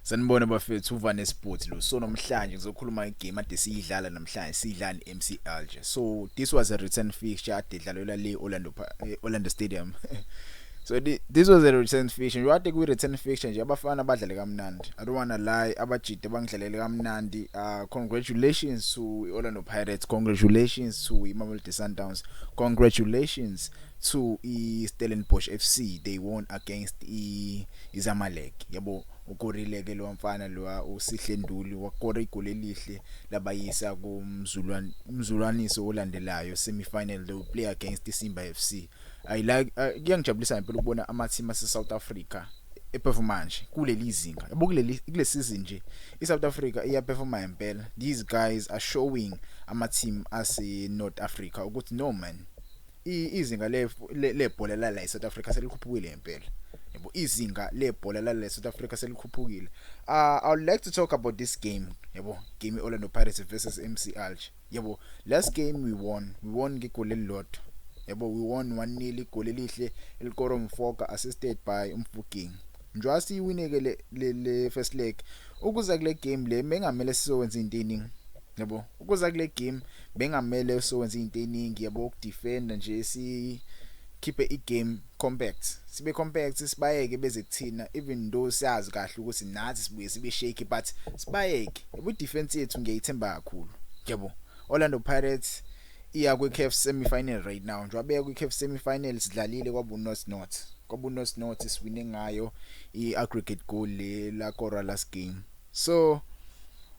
Sanibona bafethu uva nesipoti lo so namhlanje ngizokhuluma igame ade siyidlala namhlanje sidlala neMC Alger so this was a return fixture ade idlalelwa le Orlando eh, Orlando Stadium so this was a return fixture njengoba ade kuyi return fixture nje abafana badlale kamnandi i don't wanna lie abajide bangidlalele kamnandi uh congratulations to Orlando Pirates congratulations to Mamelodi Sundowns congratulations 2 iStellenbosch FC they won against iZamalek yabo ukorile ke lo mfana lo uSihle Nduli wakora igoli elihle labayisa kumzulwan umzulwaniso olandelayo semi final they play against iSimba FC i like uh, kuyangijabulisa ngempela ukubona ama team ase South Africa eperforma nje kuleli zinga yabo kuleli kule season nje iSouth Africa iyaperforma ngempela these guys are showing ama team ase North Africa ukuthi no man izinga lebhola la la eSouth Africa selikhuphukile ngempela yebo izinga lebhola la la eSouth Africa selikhuphukile uh, i would like to talk about this game yebo game Orlando Pirates versus MC Alger yebo last game we won we won ngigoli elilodwa yebo we won 1-0 igoli elihle elikoro mfoka assisted by umfuking njengoba siyiwineke le first leg ukuza kule game le mengamele sizokwenza intini yabo ukuza kule game bengamele usewenza izinto eningi yabo ukudefenda nje si khiphe igame compact sibe compact sibayeke beze kuthina even though siyazi kahle ukuthi nathi sibuye sibe shake but sibayeke ubu defense yethu ngiyayithemba kakhulu yabo Orlando Pirates iya kwi CAF semi final right now njengoba beya kwi CAF semi final sidlalile kwabu North North kwabu North North siwine ngayo i aggregate goal le la kora last game so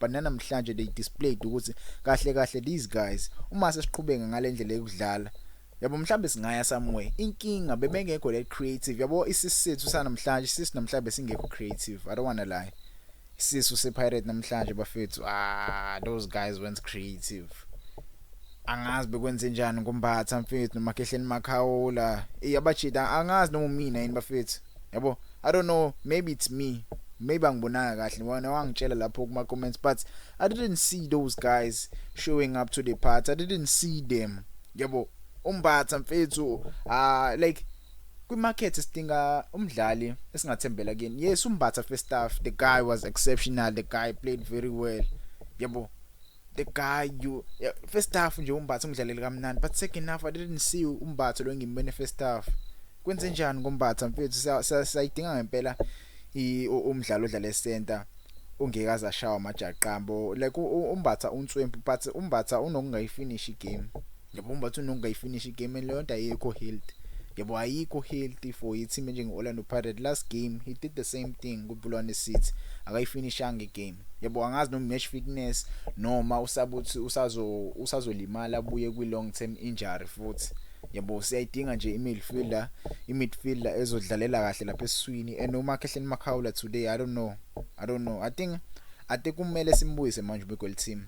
but nanamhlanje they displayed ukuthi kahle kahle these guys uma sesiqhubeka ngalendlela yokudlala yabo mhlambe singaya somewhere inkinga bebengekho le creative yabo isisethu sanamhlanje sisi namhlanje singekho creative i don't want to lie sisu sepirate namhlanje bafethu ah those guys weren't creative angazi bekwenzenjani ngombatha mfethu nomakhehleni makhawula iyabajida angazi noma mina yini bafethu yabo i don't know maybe it's me maybe angibonanga kahle wena wangitshela lapho kuma comments but i didn't see those guys showing up to the party i didn't see them yabo umbatha mfethu ah like kwimarket sidinga umdlali esingathembela kuyena yes umbatha first staff the guy was exceptional the guy played very well yabo the guy you yeah, first half nje umbatha umdlaleli kamnandi but second half i didn't see umbatha lo ngimbene first half kwenze njani ngombatha mfethu sayidinga ngempela umdlalo odlala esenta ungekaza shawa amajaqambo like umbatha unswempu but umbatha unokungayifinish igame yabo umbatha unongayifinisha igame leyo nto ayikho health yabo ayikho healthy for i-team enjenge-orlando pirate last game he did the same thing kubulwane city akayifinishanga igame yabo angazi noma match fitness noma usabuthi usazo usazolimala abuye kwi-long term injury futhi yabo siyayidinga nje i-midfielder i-midfielder ezodlalela kahle lapha esiswini and umakhehleni makhawula today i don't know i don't know i think ate kumele simbuyise manje ubekwe liteam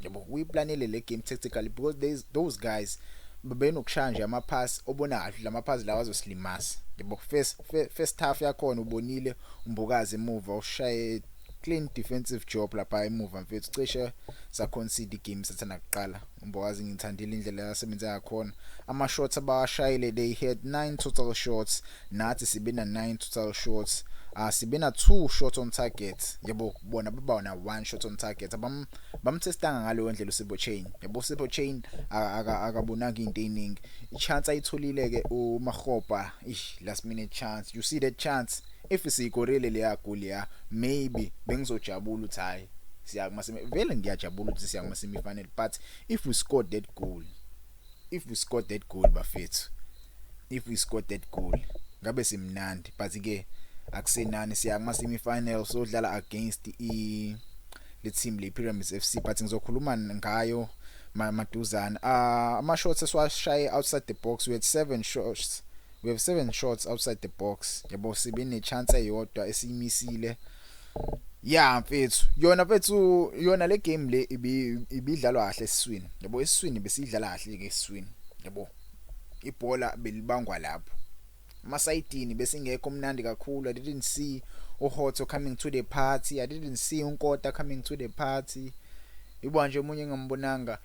yabo uyiplanile le game tactically because there is those guys bebenokushaya nje ama pass obona kahle lama pass lawa azosilimasa yabo first first half yakhona ubonile umbukazi emuva ushaye clean defensive job lapha emuva mfethu cishe sa concede game sathana kuqala umbukazi ngithandile indlela yasebenza yakhona ama shots abashayile they had 9 total shots nathi sibe na 9 total shots uh, sibe na 2 shots on target yebo bona baba na 1 shot on target abam bamthestanga ngaleyo ndlela uSibo Chain yebo Sibo Chain akabonanga into eningi ichance ayitholile ke uMahopa ish last minute chance you see that chance if siyikorele leya goal ya maybe bengizojabula uthi hayi siya kuma semi vele ngiyajabula ukuthi siya kuma semi final but if we scored that goal if we scored that goal bafethu if we scored that goal ngabe simnandi but ke akusenani siya kuma semi final sodlala against i le team le Pyramids FC but ngizokhuluma ngayo maduzana ah ama shots esiwashaye outside the box we had seven shots we have seven shots outside the box yabo sibe ne chance eyodwa esiyimisile Yeah mfethu yona mfethu yona le game le ibidlalwa kahle esiswini yabo esiswini besidlala kahle ke esiswini yabo ibhola belibangwa lapho masayidini besingekho mnandi kakhulu i didn't see uhotho coming to the party i didn't see unkota coming to the party ibo nje umunye engambonanga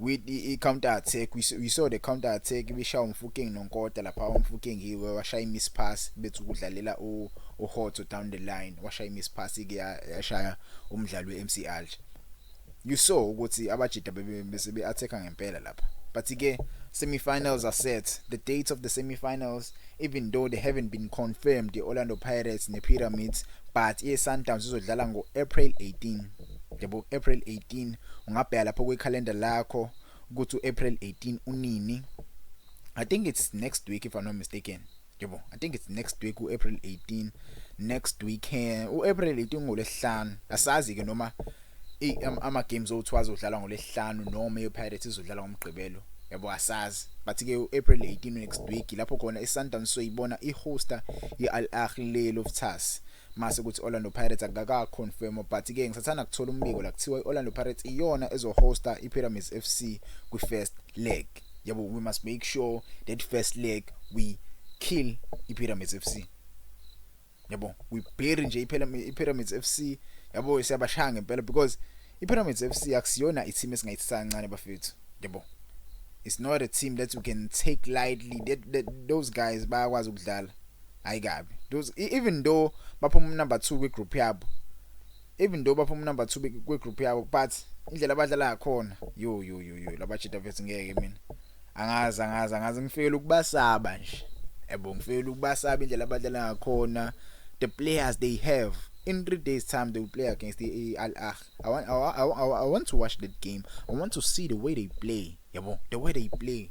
with i counter attack we, we saw the counter attack ibishaya umfuking nonkota lapha umfuking hiwe washaya imiss pass bethu kudlalela u uhotso down the line washaya imiss pass ke yashaya umdlalo weMC Alger you saw ukuthi abajida bese be attack ngempela lapha but ke semifinals are set the dates of the semifinals even though they haven't been confirmed the Orlando Pirates ne Pyramids but iSundowns izodlala ngo April 18 yabo April 18 ungabheka lapho kwi calendar lakho ukuthi uApril 18 unini I think it's next week if I'm not mistaken yebo I think it's next week uApril 18 next week eh, uApril 18 ngolesihlanu asazi ke noma ama games othiwa azodlala ngolesihlanu noma ePirates izodlala ngomgqibelo yabo asazi but ke uApril 18 next week lapho khona iSundowns soyibona ihosta iAl Ahly Loftus mase kuthi Orlando Pirates akaka confirm but ke ngisathana kuthola umbiko la kuthiwa iOrlando Pirates iyona ezohosta iPyramids FC kwiFirst leg yabo we must make sure that first leg we kill iPyramids FC yabo we bury nje iPyramids FC yabo siyabashaya ngempela because IPyramids FC akusiyona i-team esingayithi sancane bafethu. Yebo. It's not a team that you can take lightly. That, that those guys bayakwazi ukudlala. Hayi kabi. Those e, even though baphuma number 2 kwi group yabo. Even though baphuma number 2 kwi group yabo but indlela abadlala ngakhona. Yo yo yo yo labajita vets ngeke mina. angazi angazi angazi ngifikela ukubasaba nje yabo ngifikela ukubasaba indlela abadlala ngakhona the players they have in 3 days time they will play against the Al Ahly I want I, I, I, I want to watch that game I want to see the way they play yabo the way they play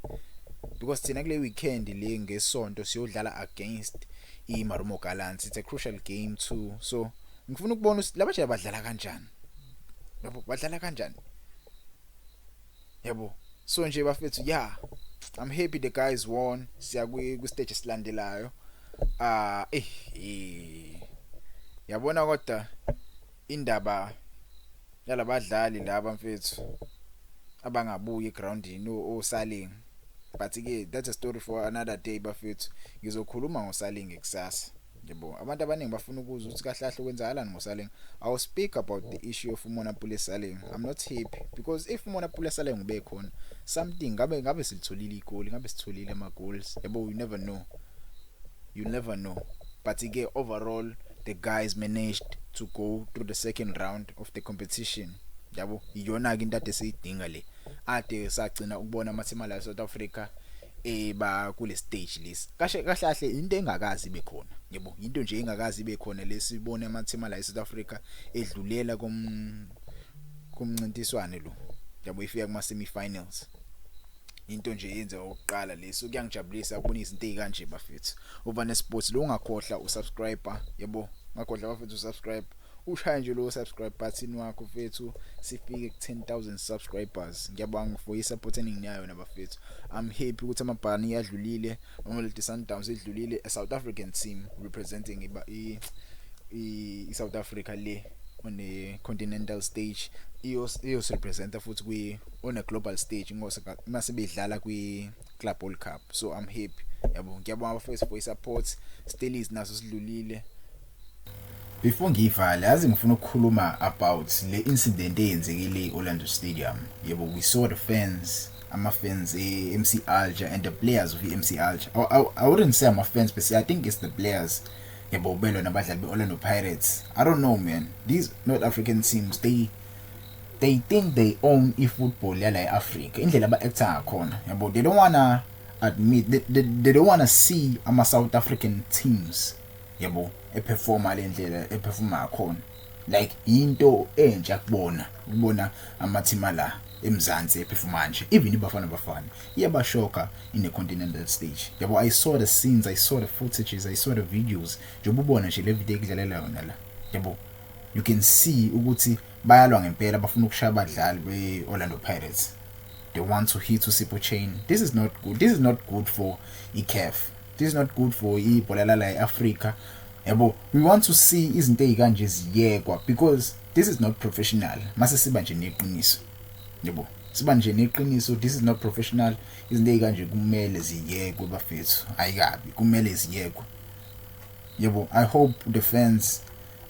because thina kule weekend le ngesonto siyodlala against i Marumo Gallants it's a crucial game too so ngifuna ukubona laba nje badlala kanjani yabo badlala kanjani yabo so nje bafethu yeah i'm happy the guys won siya ku stage esilandelayo ah eh, eh yabona kodwa indaba yalabadlali laba mfethu abangabuyi egroundini osaling but ke that's a story for another day bafethu ngizokhuluma ngosaling kusasa Yebo, abantu abaningi bafuna ukuzwa ukuthi kahle kahle kwenzakalani ngoSaleng. I will speak about the issue of Umona Pule Saleng. I'm not happy because if Umona Pule Saleng ubekhona, something ngabe ngabe silitholile igoli, ngabe sitholile ama goals. Yebo, you never know. You never know. But ke overall the guys managed to go through the second round of the competition. Yabo, iyona ke into ade siyidinga le. Ade sagcina ukubona amathimala eSouth Africa eh ba kule stage lesi kahle kahle kahle into engakazi ibe khona yebo into nje engakazi ibe khona lesibone ama team la eSouth Africa edlulela kom kumncintiswane lo yabo ifika kuma semi finals into nje yenze oqala leso kuyangijabulisa ukubona izinto ezikanje bafethu uba ne sports lo ungakhohla usubscriber yebo ngakhohla bafethu usubscribe ushaya nje lowo subscribe button wakho mfethu sifike ku 10000 subscribers ngiyabonga for isupport eninginayo nabafethu i'm happy ukuthi amabhani yadlulile Mamelodi Sundowns idlulile a South African team representing iba i, i South Africa le on a continental stage iyos iyos representa futhi kwi on a global stage ngose mase bedlala kwi Club World Cup so i'm happy yabo ngiyabonga abafethu for isupport Stellies naso sidlulile Before ngiyivale yazi ngifuna ukukhuluma about le incident eyenzekile e-Orlando Stadium. Yebo we saw the fans ama fans e-MC Alger and the players of e-MC Alger. I, I, I wouldn't say ama fans but I think it's the players. Yebo ubelwe nabadlali be-Orlando Pirates. I don't know man. These North African teams they they think they own i-football yala e-Africa. Indlela aba actor ngakhona. Yebo they don't wanna admit they, they, they don't wanna see ama South African teams yabo eperforma le ndlela eperforma ngakhona like into entsha kubona ukubona amathima la eMzansi ephefuma nje even ibafana bafana iyabashoka in the continental stage yabo i saw the scenes i saw the footages i saw the videos njengoba ubona nje le video ekudlalela yona la yabo you can see ukuthi bayalwa ngempela bafuna ukushaya abadlali be-orlando pirates they want to hit usipho chain this is not good this is not good for icaf this is not good for ibhola lala eAfrica yabo we want to see izinto ezikanje ziyekwa because this is not professional mase siba nje neqiniso yabo siba nje neqiniso this is not professional izinto ezikanje kumele ziyekwe bafethu ayikabi kumele ziyekwe yabo i hope the fans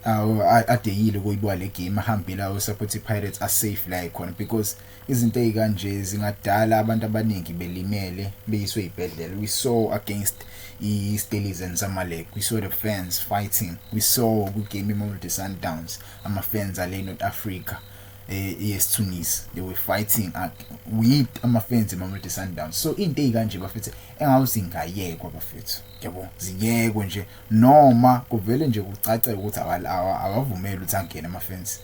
uh, adeyile ukuyibwa le game ahambile ayo support pirates are safe la ikhona because Izinto ezikanje zingadala abantu abaningi belimele beyiswe ibhedlela. We saw against iStellies and Zamalek. We saw the fans fighting. We saw kwi-game iMamelodi Sundowns ama-fans ale North Africa eh yes they were fighting at with ama-fans eMamelodi Sundowns. So into ezikanje bafethu engawuzingayekwa bafethu. Yabo ziyekwe nje noma kuvele nje kucace ukuthi awavumeli ukuthi angene ama-fans.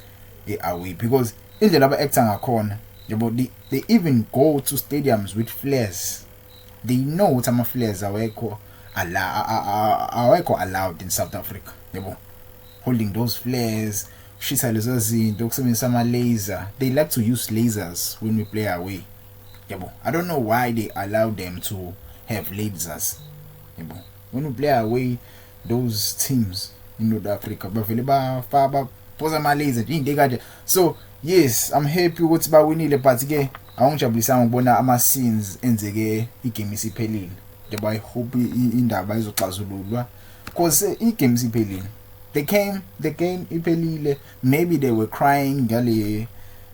they are weak because indlela aba actor ngakhona yabo they, they even go to stadiums with flares they know ukuthi ama flares awekho awekho allowed in South Africa yabo holding those flares shisa lezo zinto ukusebenzisa ama laser they like to use lasers when we play away yabo i don't know why they allow them to have lasers yabo when we play away those teams in North Africa bavele bafa those are my lazy into ekade so yes i'm happy ukuthi bawinile but ke awungijabulisanga ukubona ama scenes enzeke igame isiphelile njengoba i hope indaba izoxazululwa because eh, igame isiphelile they came the game iphelile maybe they were crying ngale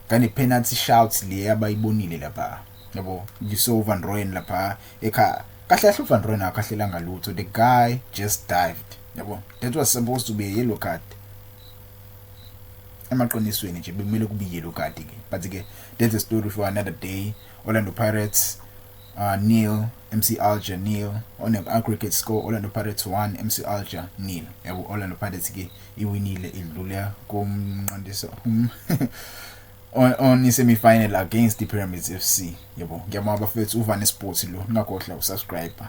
ngane penalty shouts le abayibonile lapha yabo ngiso Van Rooyen lapha ekhaya kahle kahle uVan Rooyen akahlelanga lutho the guy just dived yabo that was supposed to be a yellow card emaqinisweni nje bekumele kube yellow card ke but ke that's a story for another day Orlando Pirates uh, nil MC Alger nil on an aggregate score Orlando Pirates 1 MC Alger nil yabo Orlando Pirates ke iwinile idlule komnqandiso on, on semi final against the Pyramids FC yebo ngiyabonga bafethu uvane sports lo ningakohla usubscriber